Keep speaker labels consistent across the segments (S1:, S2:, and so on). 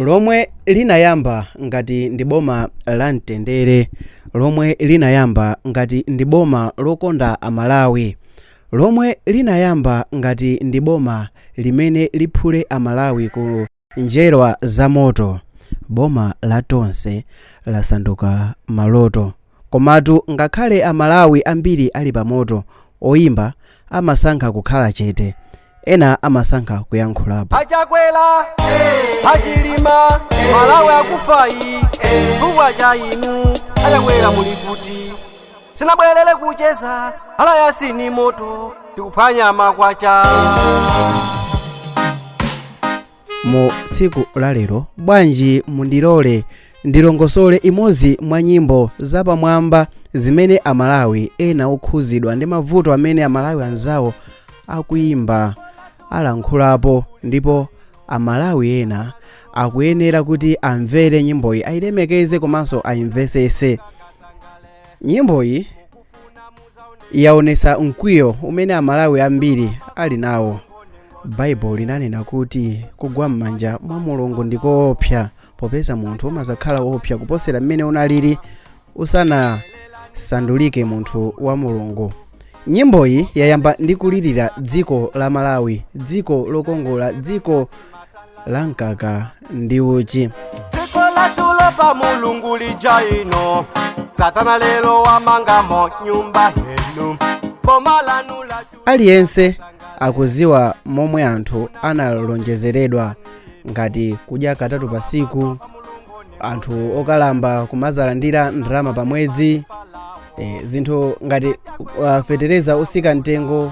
S1: lomwe linayamba ngati ndi boma la mtendere, lomwe linayamba ngati ndi boma lokonda Amalawi, lomwe linayamba ngati ndi boma limene liphule Amalawi ku njerwa za moto, boma la Tonse lasanduka maloto. Komatu ngakhale a Malawi ambiri ali pa moto, oyimba amasankha kukhala chete, ena amasankha kuyankhulapo. A
S2: Chakwera eh, a Chilima eh, malawi akufayi eh, chifukwa cha inu a Chakwera muli kuti sinabwerere kucheza ala yasini moto tikuphwanya makwacha
S1: mu tsiku la lero bwanji mundilole ndilongosole imodzi mwa nyimbo zapamwamba zimene amalawi ena okhuzidwa ndi mavuto amene amalawi anzawo akuyimba alankhulapo ndipo amalawi ena akuyenera kuti amvere nyimboyi ayilemekeze komanso ayimvesese nyimboyi yaonesa mkwiyo umene amalawi ambiri ali nawo baibulo linanena kuti kugwa m'manja mwa mulungu ndi koopsa popeza munthu umazakhala woopsa kuposera mmene unalili usanasandulike munthu wa mulungu nyimboyi yayamba ndi kulirira dziko la malawi dziko lokongola dziko la mkaka ndi uchi dziko la
S2: mtulo pa mulungu lija ino satana lero wamangamo nyumba heni boma lanu latu aliyense
S1: akuziwa momwe anthu analonjezeredwa ngati kudya katatu pasiku anthu okalamba kumazalandira ndalama pa mwezi e, zinthu ngati uh, fetereza otsika mtengo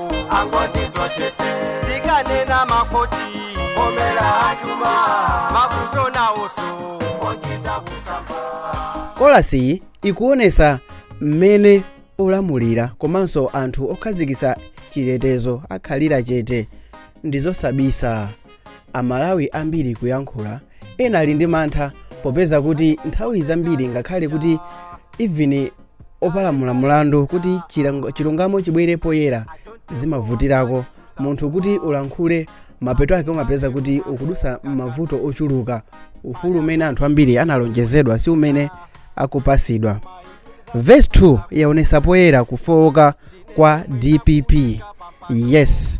S2: angoti zotete tikanena makoti omera atuma mavoti nawoso ochita kusamba
S1: chorusiyi ikuonesa mmene olamulira komanso anthu okhazikitsa chitetezo akhalira chete ndizosabisa amalawi ambiri kuyankhula ena ali ndi mantha popeza kuti nthawi zambiri ngakhale kuti even opalamula mulandu kuti chilango- chilungamo chibwere poyera zimavutirako munthu kuti ulankhule mapeto ake umapeza kuti ukudusa mavuto ochuluka ufulu umene anthu ambiri analonjezedwa si umene akupasidwa verse 2 yaonesa poyera kufowoka kwa dpp yes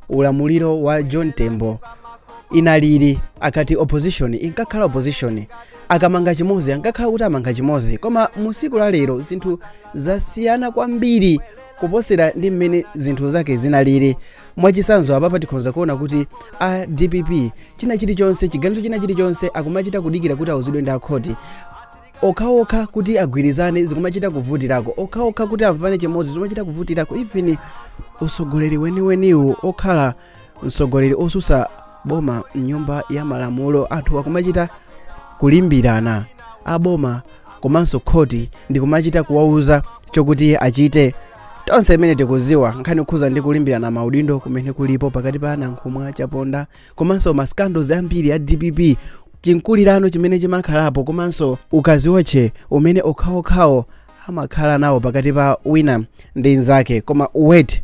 S1: ulamuliro wa john tembo inalili akati opposition inkakhala opposition akamanga chimodzi ankakhala kuti amanga chimodzi koma mu siku la lero zinthu zasiyana kwambiri kuposera ndi mmene zinthu zake zinalili mwachisanzo apapa tikhonza kuona kuti a dpp china chilichonse chiganizo china chilichonse akumachita kudikira kuti auzidwe ndi akhoti okhaokha kuti agwirizane zikumachita kuvutirako okhaokha kuti amvane chimodzi zikumachita kuvutirako even usogoleri weniweniwu okhala msogoleri osusa boma mnyumba ya malamulo anthu akumachita kulimbirana aboma komanso khoti ndikumachita kuwauza chokuti achite tonse imene tikuziwa nkhani kukhuza ndi kulimbirana maudindo kumene kulipo pakati pa a nankhumwa a chaponda komanso ma scandals ambiri a dpp chimkulirano chimene chimakhalapo komanso ukaziwotche umene okhaokhawo amakhala nawo pakati pa wina ndi nzake koma wait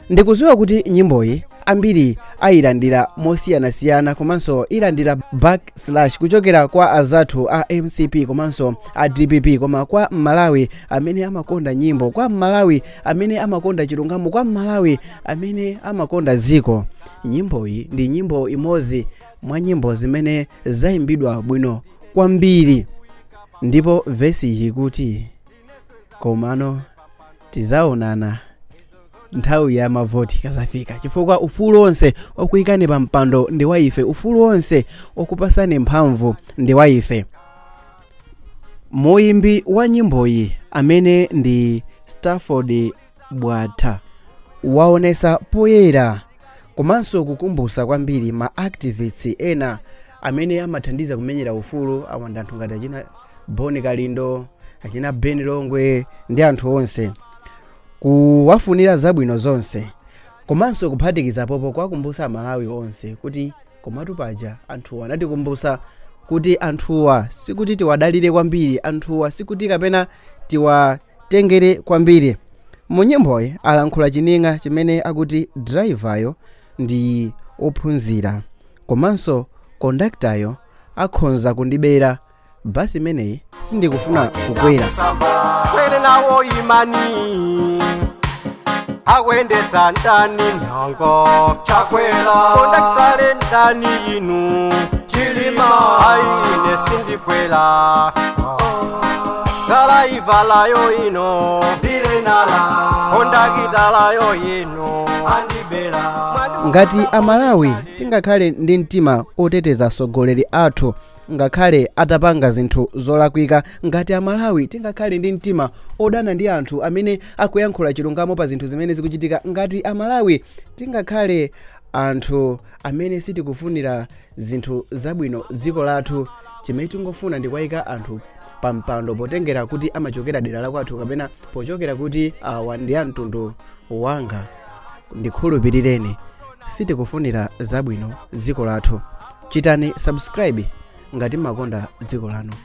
S1: ndikuziwa kuti nyimboyi ambiri ayilandira mosiyanasiyana komanso ilandira backlash kuchokera kwa azathu a mcp komanso a dpp koma kwa mmalawi amene amakonda nyimbo kwa mmalawi amene amakonda chilungamo kwa mmalawi amene amakonda dziko Nyimboyi ndi nyimbo imodzi mwa nyimbo zimene zayimbidwa bwino kwambiri ndipo vesi iyi kuti komano tizaonana nthawi ya mavoti ikazafika chifukwa ufulu onse okuyikani pa mpando ndi wa ife ufulu onse okupasani mphamvu ndi wa ife muyimbi wa nyimboyi amene ndi stafford bwatha waonesa poyera komanso kukumbusa kwambiri ma activists ena amene amathandiza kumenyera ufulu wa anthu ngati achina boni kalindo achina ben longwe ndi anthu onse kuwafunira zabwino zonse komanso kuphatikizapopo kuwakumbusa amalawi onse kuti komatu paja anthuwa anatikumbusa kuti anthuwa sikuti tiwadalire kwambiri anthuwa sikuti kapena tiwa tengere kwambiri. Mu nyimboyi alankhula chining'a chimene akuti driver-yo ndi ophunzira komanso conductor-yo akhonza kundibera bus imeneyi sindikufuna kukwera.
S2: kwere nawo imani akuyendesa ndani nyengo chakwera kondakitala ndani inu chilima aine sindikwera dalaivalayo ine ndirena kondakitalayo ine andibela ngati
S1: amalawi tingakhale ndi mtima oteteza atsogoleri athu ngakhale atapanga zinthu zolakwika ngati amalawi tingakhale ndi mtima odana ndi anthu amene akuyankhula chilungamo pa zinthu zimene zikuchitika ngati amalawi tingakhale anthu amene sitikufunira zinthu zabwino dziko lathu chimene tingofuna ndi kuwaika anthu pa mpando potengera kuti amachokera dera la kwathu kapena pochokera kuti awa ndi a mtundu wanga ndikhulupirireni sitikufunira zabwino dziko lathu chitani subscribe ngati mumakonda dziko lanu